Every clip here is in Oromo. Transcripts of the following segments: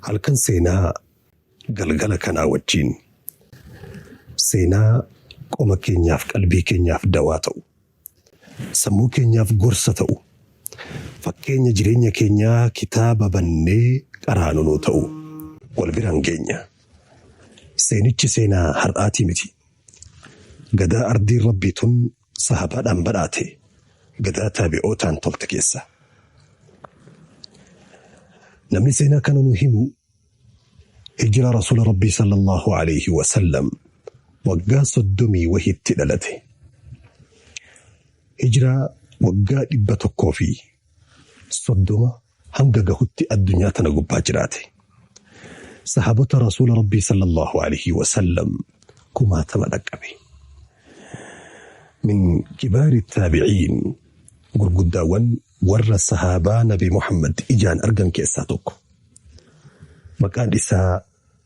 Halkan seenaa galgala kanaa wajjiin seenaa qoma keenyaaf qalbii keenyaaf dawaa ta'u, sammuu keenyaaf gorsa ta'u, fakkeenya jireenya keenyaa kitaaba bannee qaraanu nuu ta'u wal biraan geenya. Seenichi seenaa har'aatii miti. Gadaa ardiin Rabbii tun Sahaabaadhaan badhaate gadaa taabi'ootaan tolte keessa. Namni seenaa kana nu himu hijira rasuula rabbii sallallahu alayhi wa sallam waggaa soddomii wahitti dhalate. Hijiraa waggaa dhibba tokkoo fi soddoma hanga gahutti addunyaa tana gubbaa jiraate. Sahaabota Rasuula Rabbii sallallahu alaihi wasallam kumaatama dhaqqabe. Min kibaari taabiciin gurguddaawwan warra sahaabaa Nabi Muhammad ijaan argan keessaa tokko. Maqaan isaa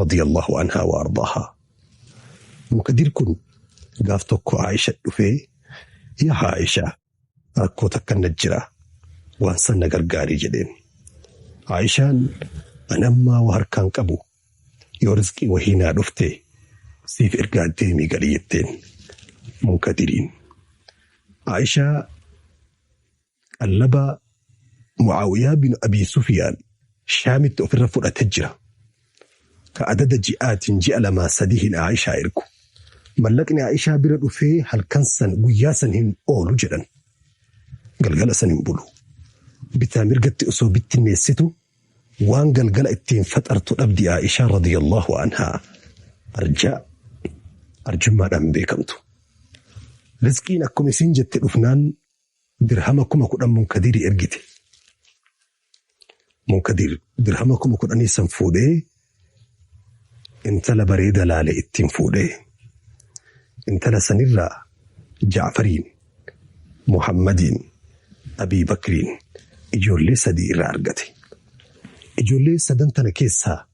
radiyallahu anhaa wa ardaahaa. Mukadir kun gaaf tokko Aisha dhufee yaa Aisha rakkoo takka na jira waan san na gargaarii jedheen. Aishaan an ammaa waa harkaan qabu yoo rizqii wahii naa dhufte siif ergaa deemii gali jetteen. Munkadiriin. Aishaa Qallaba Mu'aawiyaa bin Abii Sufyaan Shaamitti ofirra fudhate jira. Ka adada ji'aatiin ji'a lamaa sadihiin Aa'ishaa ergu. Mallaqni Aa'ishaa bira dhufee halkan san guyyaa san hin oolu jedhan. Galgala san hin bulu. Bitaa mirgatti osoo bittinneessitu waan galgala ittiin faxartu dhabdi Aa'ishaa radiyallahu anhaa. Arjaa arjummaadhaan beekamtu. Rizqiin akkuma isiin jette dhufnaan dirhama kuma kudhan munkadirii ergite. Munkadir dirhama kuma kudhanii san fuudhee intala bareeda laale ittiin fuudhee intala sanirraa Jaafariin, Muhammadiin, Abii Bakriin ijoollee sadii irraa argate. Ijoollee sadan tana keessaa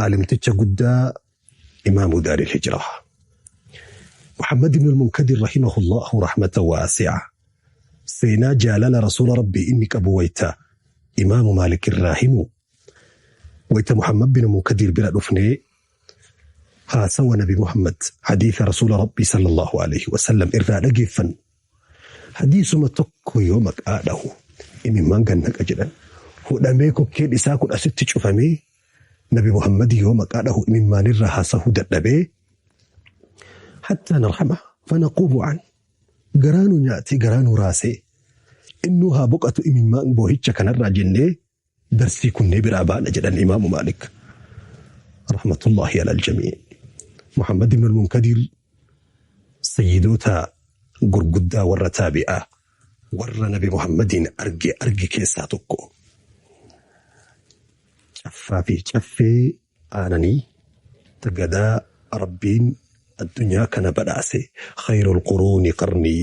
aalimticha guddaa imaamu daaril hijraa muhammad ibn al-munkadir rahimahullahu rahmata waasi'a seenaa jaalala rasuula rabbii inni qabu wayta imaamu maalik irraa himu wayta muhammad bin munkadir bira dhufnee haasawa nabi muhammad hadiisa rasuula rabbii sallallahu alaihi wasallam irraa dhageeffan Hadiisuma tokko yoo maqaa dhahu imimmaan gad naqa jedhan hudhamee kokkeen isaa kun asitti cufamee nabi Muhammad yoo maqaa dhahu imimmaanirraa haasahuu dadhabee hattaa narhama fanaquubu an garaa nu nyaatee garaa nu raasee innuu haa boqatu imimmaan boohicha kanarraa jennee darsii kunnee biraa baana jedhan imaamu maalik rahmatullaahi alal jamii muhammad ibn al-munkadiir sayyidoota gurguddaa warra taabi'aa warra nabi muhammadiin arge arge keessaa tokko caffaa fi caffee aananii gadaa rabbiin addunyaa kana badhaase khayrul quruuni qarnii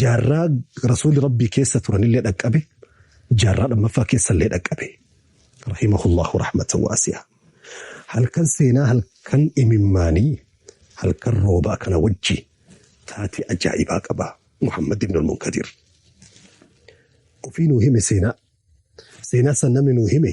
Jaarraa Rasuulli Rabbii keessa turanillee dhaqqabe, jaarraa lammaffaa keessallee dhaqqabe. Rahimahullahu rahmatan waasi'a. Halkan seenaa halkan imimmaanii halkan roobaa kana wajji taatee ajaa'ibaa qaba Muhammad ibn al-Munkadir. Ofii nuu hime seenaa. Seenaa san namni nuu hime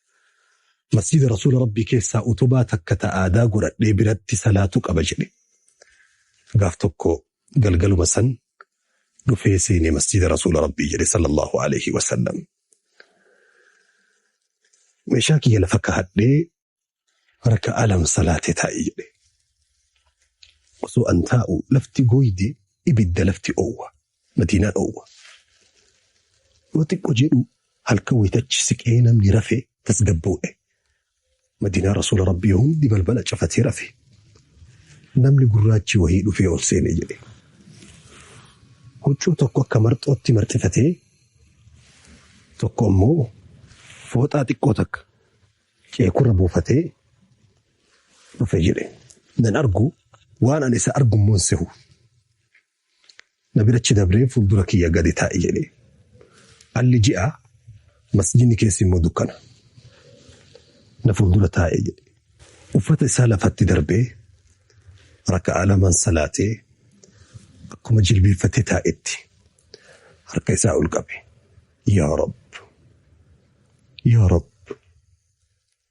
Masjiida Rasuula Rabbii keessaa utubaa takka ta aadaa godhadhee biratti salaatu qaba jedhe. Gaaf tokko galgaluma san dhufee seene masjiida Rasuula Rabbii jedhe sallallahu alaihi wasallam. Meeshaa kiyya lafa kahadhee raka'aa lama salaatee taa'e jedhe. Osoo an taa'u lafti gooyde ibidda lafti oowwa. Madiinaa dhoowwa. Yoo xiqqo jedhu halkan wayitachi siqee namni rafe tasgabboo'e. Madiinaa Rasuula Rabbii hundi balbala cafatee rafe. Namni gurraachi wahii dhufee ol seene jedhe. Huccuu tokko akka marxootti marxifatee tokko immoo fooxaa xiqqoo takka ceekurra buufatee dhufe jedhe. Nan argu waan ani isa argu immoo hin sehu. Na bira achi dabree fuuldura kiyya gadi taa'i jedhee. Alli ji'a, masjidni keessi immoo dukkana. Na fuuldura taa'e jedhe. Uffata isaa lafatti darbee raka'aa lamaan salaatee akkuma jilbiiffatee taa'etti harka isaa ol qabe. Yaa Rabb! Yaa Rabb!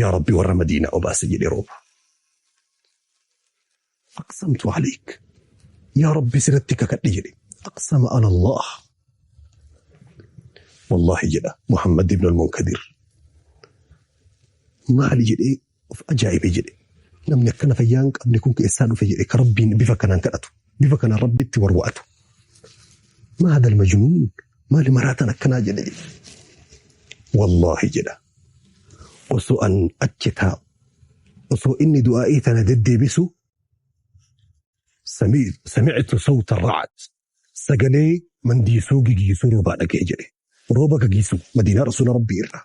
yaa rabbi warra madiinaa obaase jedhe rooba aqsamtu aleyk yaa rabbi siratti kakadhe jedhe aqsama ala allah wallahi jedha muhammad ibn almunkadir maali jedhee of ajaa'ibe jedhe namni akkana fayyaa hin qabne kun keessaa dhufe jedhe ka rabbiin bifa kanaan kadhatu bifa kana rabbitti warwa'atu maa hadal majnuun maali maraatan akkanaa jedhe wallaahi jedha osoo an achi taa'u osoo inni du'aa'ii tana deddeebisu sami- samictu sawta racad sagalee mandiisuu gigiisuu roobaa dhagee jedhe rooba gagiisu madiinaa rasuula rabbii irraa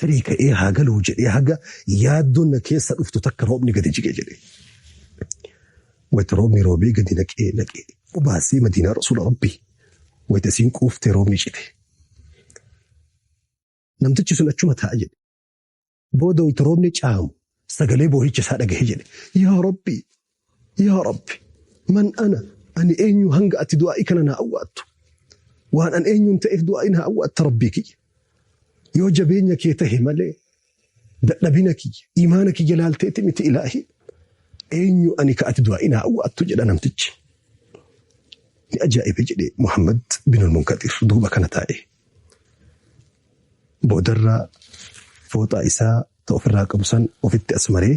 Tarii ka'ee haa galuu jedhee haga yaaddoon na keessa dhuftu takka roobni gadi jige jedhe. Wayita roobni roobee gadi naqee naqee obaasee Madiinaa Rasuula Rabbii wayita isiin quuftee roobni cite. Namtichi sun achuma taa'a jedhe. Booda wayita roobni caamu sagalee boohicha isaa dhagahe jedhe. Yaa Rabbii! Yaa Rabbi! Man ana? Ani eenyu hanga ati du'aa'ii kana naa awwaattu? Waan an eenyuun ta'eef du'aa'ii naa awwaatta Rabbii kiyya? Yoo jabeenya kee tahe malee dadhabina kiyya, iimaana kiyya laalteeti miti Ilaahi! Eenyu ani ka ati du'aa'ii naa awwaattu? jedha namtichi. Ni ajaa'ibe jedhe Muhammad binul Munkadir duuba kana taa'ee. Boodarra fooxaa isaa ta ofirraa qabu san ofitti as maree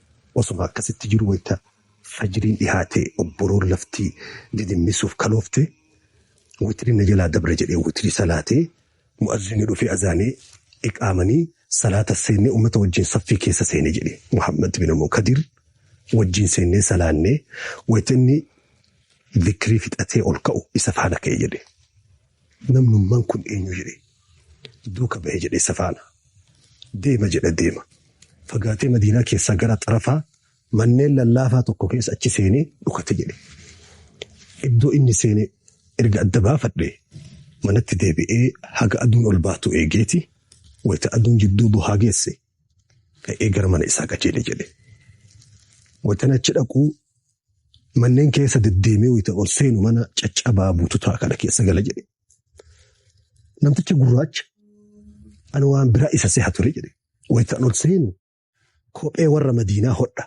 Osuma akkasitti jiru wayta fajriin dhihaate obboroon lafti didimmissuuf kaloofte witrin na jalaa dabre jedhee witrii salaatee mu'azzinni dhufee azaanee iqaamanii salaata seennee ummata wajjiin saffii keessa seene jedhe Muhammad bin Mukadir wajjiin seennee salaannee wayta inni zikrii fixatee ol ka'u isa faana ka'e jedhe. Namnumman kun eenyu jedhe duuka bahe jedhe isa faana deema jedha deema. Fagaatee Madiinaa keessaa gara xarafaa manneen lallaafaa tokko keessa achi seenee dhukate jedhe. Iddoo inni seene erga adda baafadhe manatti deebi'ee haga aduun ol baatu eegeeti wayta aduun jidduu bohaa geesse ka'ee gara mana isaa qajeele jedhe. Watan achi dhaquu manneen keessa deddeemee wayita ol seenu mana caccabaa bututaa kana keessa gala jedhe. Namtichi gurraacha ani waan biraa isa seha ture jedhe. Wayita ol seenu kophee warra madiinaa hodha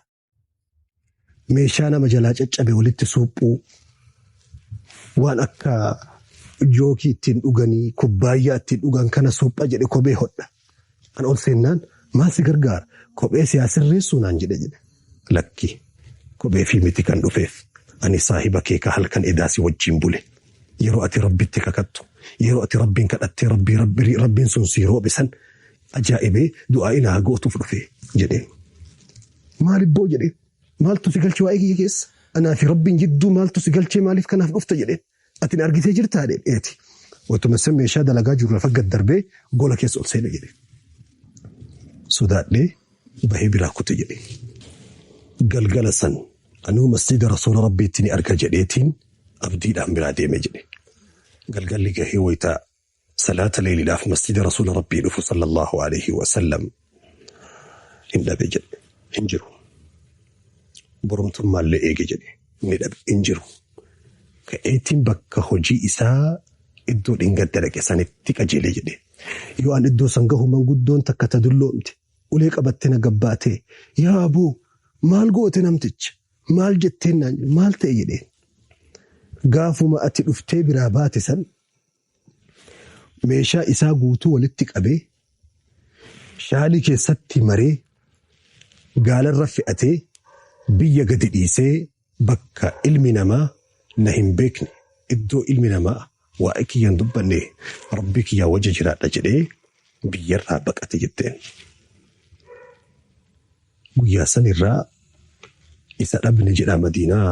meeshaa nama jalaa caccabe walitti suuphuu waan akka jookii ittiin dhuganii kubbaayyaa ittiin dhugan kana suupha jedhe kophee hodha. An ol seennaan maal si gargaara kophee siyaa sirreessuu naan jedhe jedhe. Lakki kophee fi miti kan dhufeef ani saahiba kee ka halkan edaa si wajjin bule. Yeroo ati rabbitti kakattu yeroo ati rabbiin kadhattee rabbii rabbiin sun sii roobe san Ajaa'ibee du'aa'i naa gootuuf dhufe jedheen. Maal ibboo jedheen. Maaltu si galche waa'ee kiyya keessa? Anaa fi Rabbiin jidduu maaltu si galchee maaliif kanaaf dhufta jedheen. Ati na argitee jirtaa jedheen. Eeti. Otuma san meeshaa dalagaa jiru lafa gad darbee gola keessa ol seene jedheen. Sodaadhee bahee biraa kute jedheen. Galgala san anuu masjiida rasuula Rabbiitti ni arga jedheetiin abdiidhaan biraa deeme jedhe. Galgalli gahee wayita Salaata leeyliidhaaf masjiida Rasuula Rabbii dhufu sallallahu alayhi wa sallam hin dhabe jedhe hin jiru. Boromtummaallee eege jedhe ni dhabe hin jiru. Ka'eetiin bakka hojii isaa iddoo dhingadda dhaqe sanitti qajeelee jedhe. Yoo an iddoo san gahu manguddoon takka ta dulloomte ulee qabatte na gabbaatee yaa aboo maal goote namticha maal jetteen naan maal ta'e jedheen. Gaafuma ati dhuftee biraa baate san meeshaa isaa guutuu walitti qabee shaalii keessatti maree gaalarra fe'atee biyya gadi dhiisee bakka ilmi namaa na hin beekne iddoo ilmi namaa waa'ee kiyya hin dubbanne rabbii kiyyaa wajji jiraadha jedhee biyyarraa baqate jetteen. Guyyaa san irraa isa dhabne jedha Madiinaa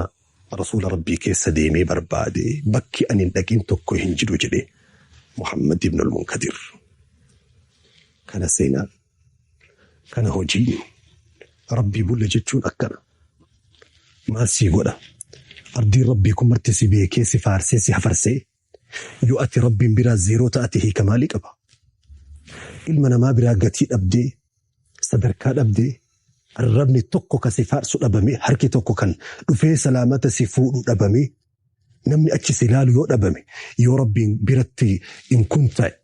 Rasuula Rabbii keessa deemee barbaade, bakki ani hin dhaqin tokko hin jiru jedhe Muhammad ibn al-Munkadir. Kana seenaan, kana hojiin Rabbii bulla jechuun akkana. Maal sii godha? Abdiin Rabbii kun marti si beekee, si faarsee, si hafarsee. Yoo ati Rabbiin biraa zeeroo ta'ate hiika maalii qaba? Ilma namaa biraa gatii dhabdee, sadarkaa dhabdee, arrabni tokko kan si faarsu dhabamee, harki tokko kan dhufee salaamata si fuudhu dhabamee, namni achi si ilaalu yoo dhabame, yoo Rabbiin biratti in kun ta'e,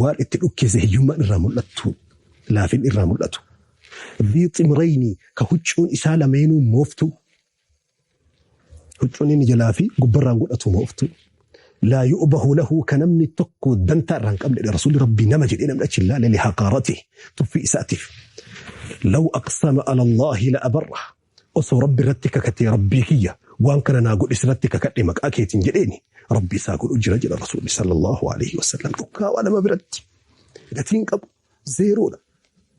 Waan itti dhukkeesse hiyyummaan irraa mul'attu, laafinni irraa mul'atu. Dhii ximrayni ka huccuun isaa lameenuu mooftu. Huccuun inni jalaa fi gubbarraan godhatu mooftu. Laa yu'bahu lahu ka namni tokko dantaa irraa hin qabne rasuulli rabbii nama jedhee namni achi hin laale lihaqaarati tuffii isaatiif. Law aqsama ala Allahi la abarra Osoo Rabbi irratti kakatee Rabbii kiyya waan kana naa godhi sirratti kakadhe maqaa keetiin jedheeni Rabbi isaa godhu jira jedha Rasuulli sallallahu alaihi wasallam dhukkaawaa nama biratti gatiin qabu zeeroodha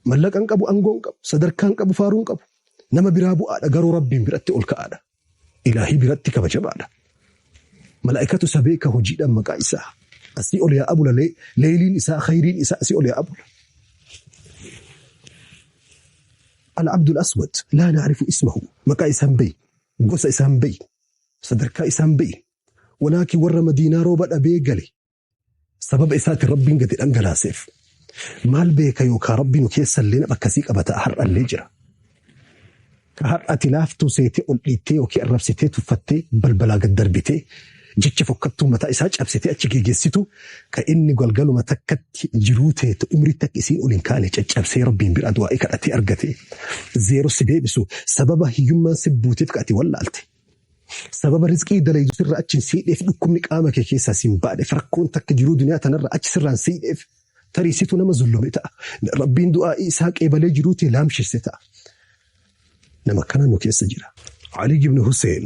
mallaqan qabu angoon qabu sadarkaan qabu faaruun qabu nama biraa bu'aadha garuu Rabbiin biratti ol ka'aadha ilaahii biratti kabajabaadha malaa'ikatu isa beeka hojiidhaan maqaa isaa asii ol yaa abula leeyliin isaa khayriin isaa asii ol yaa abula Al Abdul Aswad laa na'rifu ismahu, maqaa isaa hin beeynu, gosa isaa hin beeynu, sadarkaa isaa hin beeynu, walaakin warra Madiinaa rooba dhabee gale sababa isaatin Rabbiin gadi dhangalaaseef, maal beeka yookaa Rabbi nu keessallee nama akkasii qaba ta'a har'allee jira. Ka har'a ati laaftuu seetee ol dhiittee yookii arrabsitee tuffattee balbalaa gad darbitee Jecha fokkattuu mataa isaa cabsitee achi geegessitu, ka inni galgaluma takkatti jiruu teete umriitti akka isiin ol hin kaane caccabsee Rabbiin biraa du'aa'ii kadhatee argate, zeero si deebisu, sababa hiyyummaan si buuteef ka ati wallaalte. Sababa rizqii dalaydu sirraa achi hin seeyneef, dhukkubni qaama kee keessaa si hin baaneef, rakkoon takka jiruu duniyaa tanarraa achi sirraa hin seeyneef, tarii situ nama zullume ta'a. Rabbiin du'aa'ii isaa qeebalee jiruu tee laamshesse ta'a. Nama akkana nu keessa jira. Aliyyi ibn Huseen,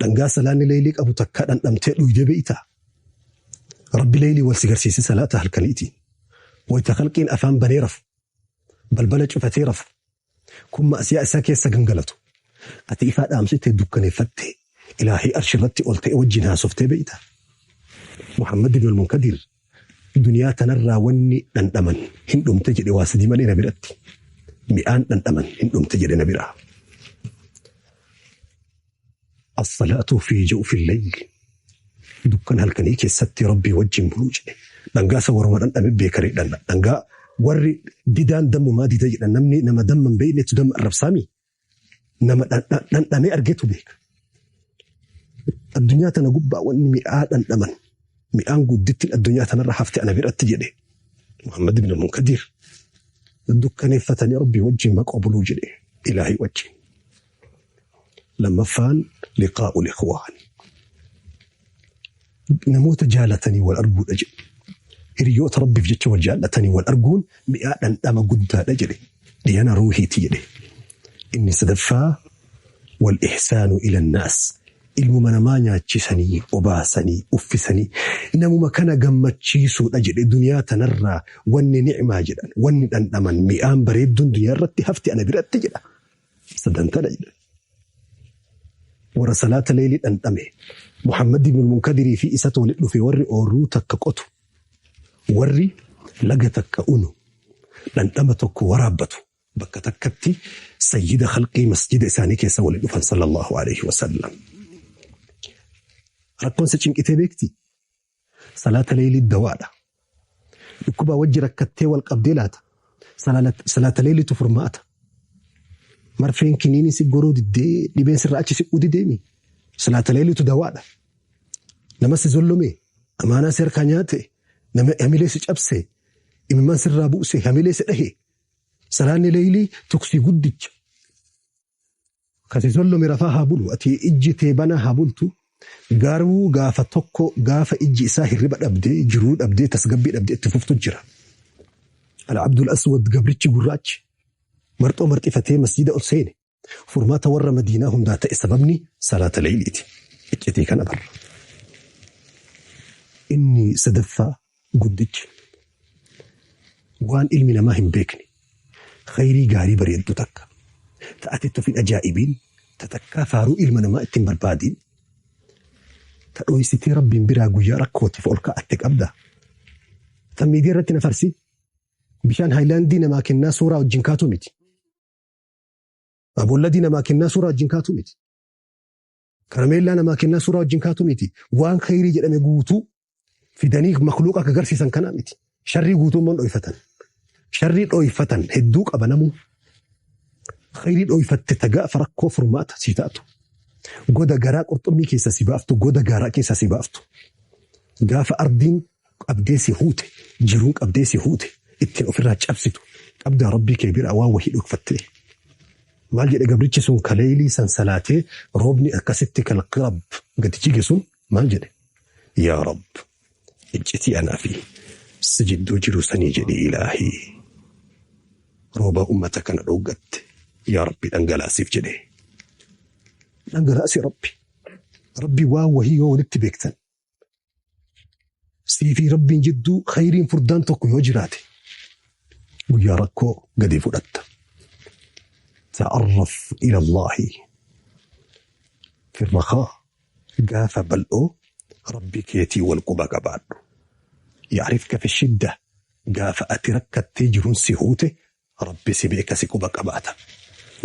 Dhangaa salaanni leeylii qabu takkaa dhandhamtee dhuydee beeytaa? Rabbi leeylii wal si garsiise salaata halkaniitiin. Wayta khalqiin afaan banee rafu, balbala cufatee rafu, kun ma'asiyaa isaa keessa gangalatu. Ati ifaa dhaamsitee dukkaneeffattee ilaahii arshi irratti ol ta'e wajjiin haasoftee beeytaa? Muhammad ibn al-Munkadiir duniyaa tanarraa wanni dhandhaman hin dhumte jedhe waa sadii malee na biratti. Mi'aan dhandhaman hin dhumte jedhe na biraa. As-salaatu fi ja'u fi layli. Dukkan halkanii keessatti rabbii wajjin buluu jedhe. Dhangaa isa waruma dhandhame beekare dhanna. Dhangaa warri didaan dammumaa dida jedhan namni nama damma hin beeknetu damma arrabsaami. Nama dhandhamee argetu beeka. Addunyaa tana gubbaa wanni mi'aa dhandhaman mi'aan guddittiin addunyaa tanarra hafte ana biratti jedhe Muhammad ibn Munkadiir dukkaneeffatanii rabbii wajjin maqaa buluu jedhe ilaahii wajjin. Lammaffaan liqaa'u liqwaani. Namoota jaalatanii wal arguudha jedhe. Hiriyoota rabbiif jecha wal jaallatanii wal arguun mi'aa dhandhama guddaadha jedhe. Dhiyana ruuhiiti jedhe. Inni sadaffaa wal ihsaanu ilannaas. Ilmuma namaa nyaachisanii, obaasanii, uffisanii namuma kana gammachiisuudha jedhe duniyaa tanarraa wanni ni'maa jedhan wanni dhandhaman mi'aan bareedduun duniyaa irratti hafti ana biratti jedha. Sadantaadha jedhan. Warra salaata leelii dhandhame Muhammad ibn Munkadirii fi isatu walitti dhufe warri oorruu takka qotu warri laga takka unu dhandhama tokko waraabbatu bakka takkatti sayyida khalqii masjida isaanii keessa walitti dhufan sallallahu alaihi wasallam. Rakkoon isa cinqitee beekti. Salaata leeylii dawaadha. Dhukkubaa wajji rakkattee wal qabdee laata. Salaata leeyliitu furmaata. Marfeen kiniinii si goruu diddee dhibeen sirra achi si udideemi. Salaata leeyliitu dawaadha. Nama si zollomee amaanaa si harkaa nyaate nama hamilee si cabse imimmaan sirraa buuse hamilee si dhahe. Salaanni leeylii tuksii guddicha. Akkasi sollome rafaa haa bulu ati ijji tee banaa haa bultu garuu gaafa tokko gaafa ijji isaa hirriba dhabde jiruu dhabde tasgabbii dhabde itti fuftu jira al abdul aswad gabrichi gurraachi marxoo marxifatee masjiida ol seene furmaata warra madiinaa hundaa ta'e sababni salaata leeyliiti iccitii kana barra inni sadaffaa guddichi waan ilmi namaa hin beekne khayrii gaarii bareeddu takka ta ati itti of hin ajaa'ibiin ta takkaa faaruu ilma namaa ittiin barbaadiin ta dhoysitee rabbiin biraa guyyaa rakkootiif ol ka'atte qabda ta miidiyaa irratti na farsi bishaan haayilaandii namaa kennaa suuraa wajjin kaatu miti. Abolladii namaa kennaa suuraa wajjin kaatu miti. Karameellaa namaa kennaa suuraa wajjin kaatu miti. Waan khayrii jedhame guutuu fidanii makluuqa akka garsiisan kana miti. Sharrii guutuu immoo dhoyfatan. Sharrii dhoyfatan hedduu qaba namuu. Khayrii dhoyfatte tagaafa rakkoo furmaata sii taatu. Goda garaa qurxummii keessa si baaftu, goda gaaraa keessa si baaftu. Gaafa ardiin qabdee si huute jiruun qabdee si huute ittiin ofirraa cabsitu qabdaa rabbii kee biraa waan wahii dhokfattee maal jedhe gabrichi sun kaleeylii san salaatee roobni akkasitti kalqi rabb gadi jige sun maal jedhe yaa rabb iccitii anaa fi si jidduu jiru sanii jedhe ilaahii roobaa ummata kana dhooggatte yaa rabbi dhangalaasiif jedhe dhangalaasi rabbi rabbi waan wahii yoo walitti beektan Siifii rabbiin jidduu khayriin furdaan tokko yoo jiraate guyyaa rakkoo gadi fudhatta. Ta'arraf ila Allaahi firrakaa gaafa bal'oo rabbi keetii wal quba qabaadhu. Yaarifka fi shidda gaafa ati rakkattee jiruun si huute Rabbi si beeka si quba qabaata.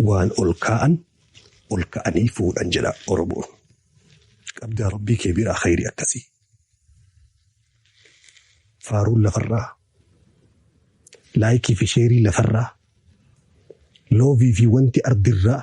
Waan ol kaa'an ol ka'anii fuudhan jedha Oromoon. Qabdaa Rabbii kee biraa khayrii akkasii. Faaruun lafarraa, laayikii fi sheerii lafarraa, loovii fi wanti ardirraa